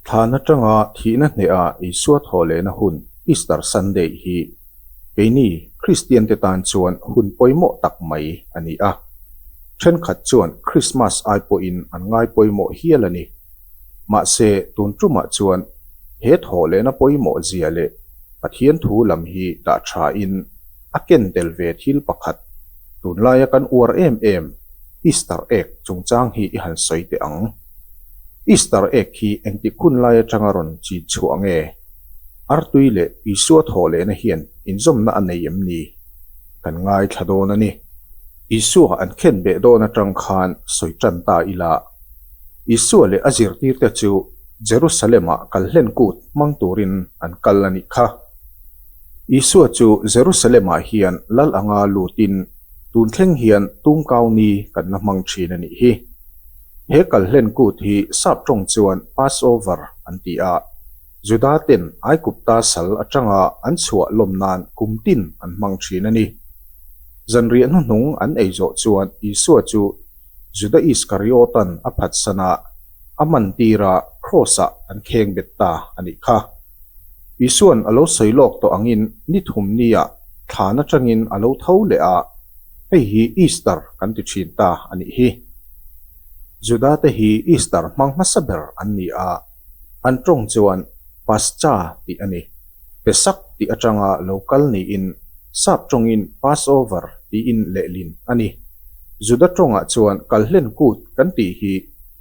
Thlan atanga thihna hnehah Isua thawh lehna hun Easter Sunday hi keini Kristiante tan chuan hun pawimawh tak mai a ni a. Thenkhat chuan Krismas ai pawhin an ngaipawimawh hial a ni. Mahse, tun ṭumah chuan he thawh lehna pawimawh zia leh Pathian thu lam hi dah ṭhain a ken tel ve thil pakhat, tunlaia kan uar em em, Easter egg chungchang hi i han sawi teh ang. Easter egg hi engtik hun lai aṭanga rawn chin chhuah nge? Artui leh Isua thawh lehna hian inzawmna a nei em ni? Kan ngaithla dawn a ni. Isua an khenbeh dawn aṭang khan sawi ṭan ta ila. Isua leh a zirtirte chu Jerusalema kal hlen kut hmang turin an kal a nih kha. Isua chu Jerusalemah hian lal anga lutin tun thleng hian tum kau ni kan la hmang thin a nih hi. He kal hlen kut hi sap tawng chuan Passover an ti a, Juda ten Aigupta sal atanga an chhuah lawm nan kum tin an hmang thin a ni. Zanriah hnuhnung an ei zawh chuan Isua chu Juda Iskariotan a phatsanah a man tirah Kraws-a an kheng bet ta a nih kha. Isuan a lo sawi lawk tawh angin ni thum nia thlan atangin a lo tho leh a, hei hi Easter kan ti thin ta a nih hi. Juda te hi Easter hmang hmasa ber an ni a, an tawng chuan Pascha tih a ni. pe sak tih atanga lo kal niin sap tawngin Passover tiin lehlin a ni. Juda tawngah chuan kal hlen kut kan tih hi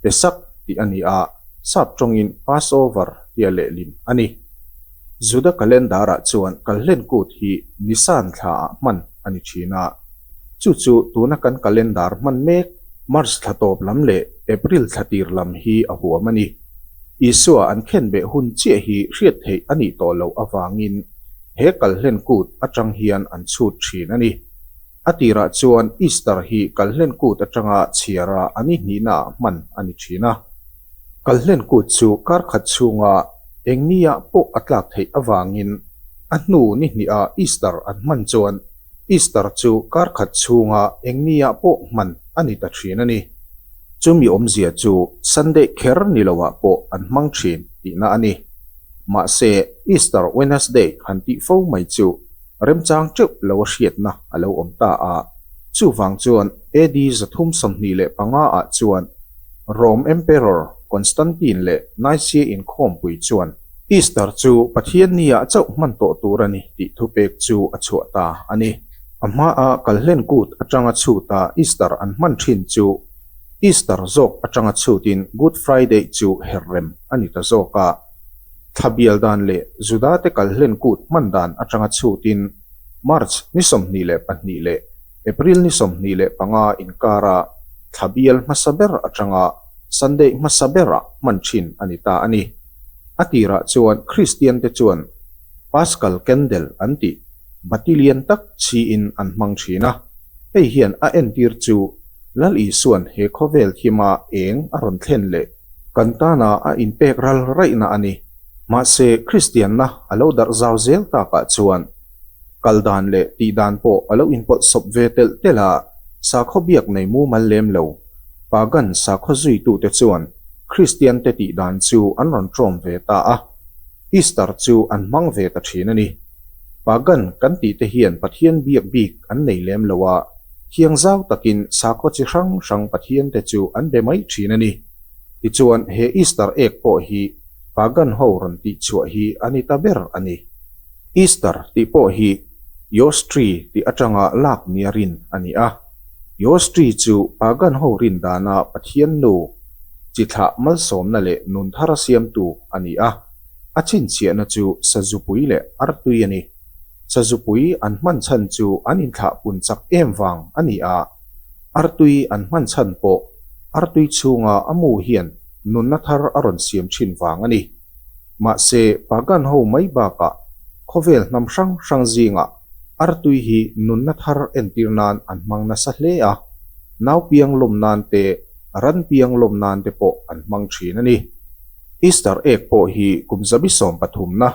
pe sak tih a ni a, sap tawngin Passover tia lehlin a ni. Juda calendar-ah chuan kal hlen kut hi Nisan thlaah hman a ni thin a, chu chu tuna kan calendar hman mek March thla tawp lam leh April thla tir lam hi a huam a ni. Isua an khenbeh hun chiah hi hriat theih a nih tawh loh avangin he kal hlen kut atang hian an chhut thin a ni. A tirah chuan Easter hi kal hlen kut atanga chhiara an ihnihna hman a ni thin a. Kal hlen kut chu kar khat chhunga eng nia pawh a tlak theih avangin a hnu ni hniha Easter an hman chuan Easter chu kar khat chhunga eng nia pawh hman a ni ta thin a ni. Chumi awmzia chu Sunday kher ni lohah pawh an hmang thin tihna a ni. Mahse, Easter Wednesday han tih fo mai chu remchang teuh lo a hriatna a lo awm ta a. Chuvang chuan AD za thum sawmhnih leh panga ah chuan Rome Emperor Constantine leh Nicaea inkhawmpui chuan, Easter chu Pathian ni ah chauh hman tawh tur a ni tih thupek chu a chhuah ta a ni. A hma a Kalhlen Kut atanga chhut ah Easter an hman thin chu Easter zawk atanga chhut in Good Friday chu her rem a ni ta zawk a. Thla bial dan leh Juda te Kalhlen Kut hman dan atanga chhut in March ni sawmhnih leh pahnih leh April ni sawmhnih leh panga inkar a thla bial hmasa ber atanga Sunday hmasa ber ah hman thin a ni ta a ni. A tirah chuan Kristiante chuan Paskal Candle an ti, bati lian tak chhiin an hmang thin a. Hei hian a entir chu Lal Isuan he khawvel thima eng a rawn thlen leh kan tana a inpek ral raihna a ni. Mahse, Kristianna a lo darh zau zel takah chuan kal dan leh tih dan pawh a lo inpawlh sawp ve telh telh a, sakhaw biak nei mumal lem lo. Pagan sakhaw zuitute chuan Kristiante tih dan chu an rawn ṭawm ve ta a, Easter chu an hmang ve ta ṭhin a ni. Pagan kan tih te hian Pathian biak bik an nei lem lo a, thiang zau takin sakhaw chi hrang hrang pathiante chu an be mai ṭhin a ni. Tichuan, he Easter egg pawh hi Pagan ho rawn tih chhuah hi a ni ta ber a ni. Easter tih pawh hi Yawstree tih aṭanga lak miarin a ni a. Yawsri chu pagan ho rindana Pathian nu, chi thlah malsawmna leh nun thar a siamtu a ni a. A chhinchhiahna chu Sazupui leh Artui a ni. Sazupui an hman chhan chu an inthlah pun chak em vang a ni a. Artui an hman chhan pawh Artui chhunga a mu hian nunna thar a rawn siam thin vang a ni. Mahse, pagan ho mai bakah khawvel hnam hrang hrang zingah Artui hi nunna thar entir nan an hmang nasa hle a, naupiang lawm nan te, ranpiang lawm nan te pawh an hmang thin a ni. Easter egg pawh hi kum zabi sawm pathumna,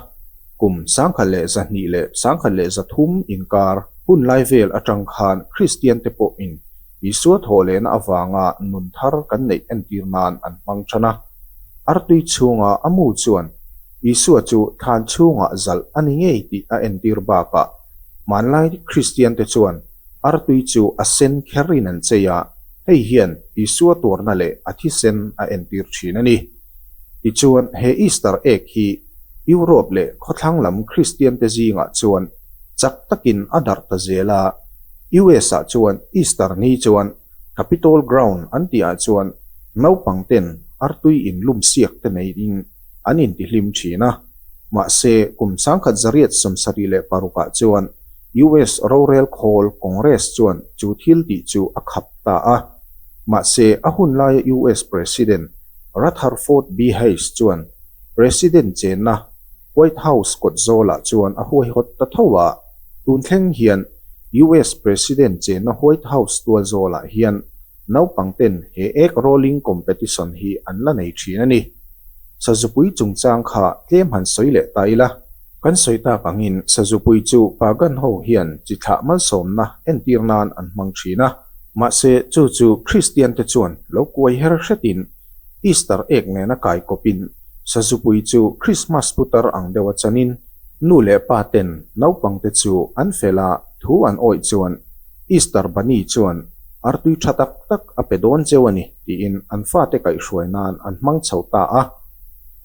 kum sangkhat leh zahnih leh sangkhat leh zathum inkar hunlai vel atang khan Kristian te pawhin Isua thawh lehna avanga nun thar kan neih entir nan an hmang than a. Artui chhunga a mu chuan Isua chu thlan chhungah zalh a ni ngei tih a entir bakah, hmanlai Kristiante chuan artui chu a sen kherin an chei a, hei hian Isua tuarna leh a thisen a entir thin a ni. Tichuan, he Easter egg hi Europe leh khawthlang lam Kristiante zingah chuan chak takin a darh ta zel a. US-ah chuan Easter ni chuan Capitol Ground an tihah chuan naupang ten artui in lum siak te nei in an in ti hlim thin a. Mahse, kum changkhat zariat sawmsarih leh parukah chuan US rorel khawl Congress chuan chu thil tih chu a khap ta a. Mahse, a hun laia US President Rutherford B. Hayes chuan President chenna, White House kawt zawlah chuan a huai hawt ta tho a. Tun thleng hian US President chenna White House tual zawlah hian naupang ten he egg rolling competition hi an la nei thin a ni. Sazupui chungchang kha tlem han sawi leh ta ila. Kan sawi tak angin Sazupui chu pa gan ho hian chi thlah malsawmna entir nan an hmang thin a. Mahse chu chu Kristian te chuan lo kuai her hretin Easter egg nena kaikawpin Sazupui chu Krismas putar ang deuha chanin nu leh paten naupangte chu an fela thu an awih chuan Easter Bunny chuan artui tha tak tak a pe dawn cheu a ni tiin an fate kaihhruai nan an hmang chho ta a.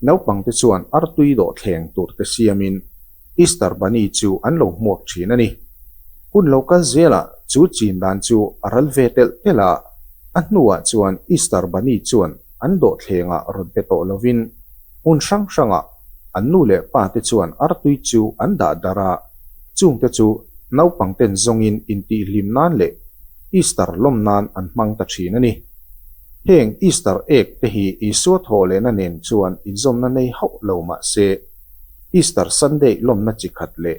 Naupangte chuan artui dawhthleng turte siamin. Easter Bunny chu an lo hmuak thin a ni. Hun lo kal zelah chu chin dan chu a ral ve telh telh a, a hnuah chuan Easter Bunny chuan an dawhthlengah rawn pe tawh lovin hmun hrang hrangah an nu leh pa te chuan artui chu an dah dar a, chung te chu naupang ten zawngin intihhlim nan leh Easter lawm nan an hmang ta thin a ni. Heng Easter egg te hi Isua thawh lehna nen chuan inzawmna nei hauh lo mah se, Easter Sunday lawmna chi khat leh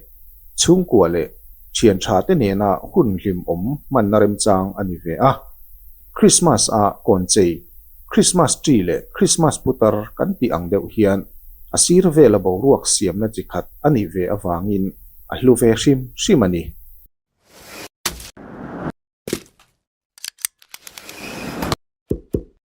chhungkua leh thianthate nena hun hlim awm hmanna remchang a ni ve a. Krismas a kawn chei, Krismas Tree leh Krismas Putar kan tih ang deuh hian a sir vela boruak siamna chi khat a nih ve avangin a hlu ve hrim hrim a ni.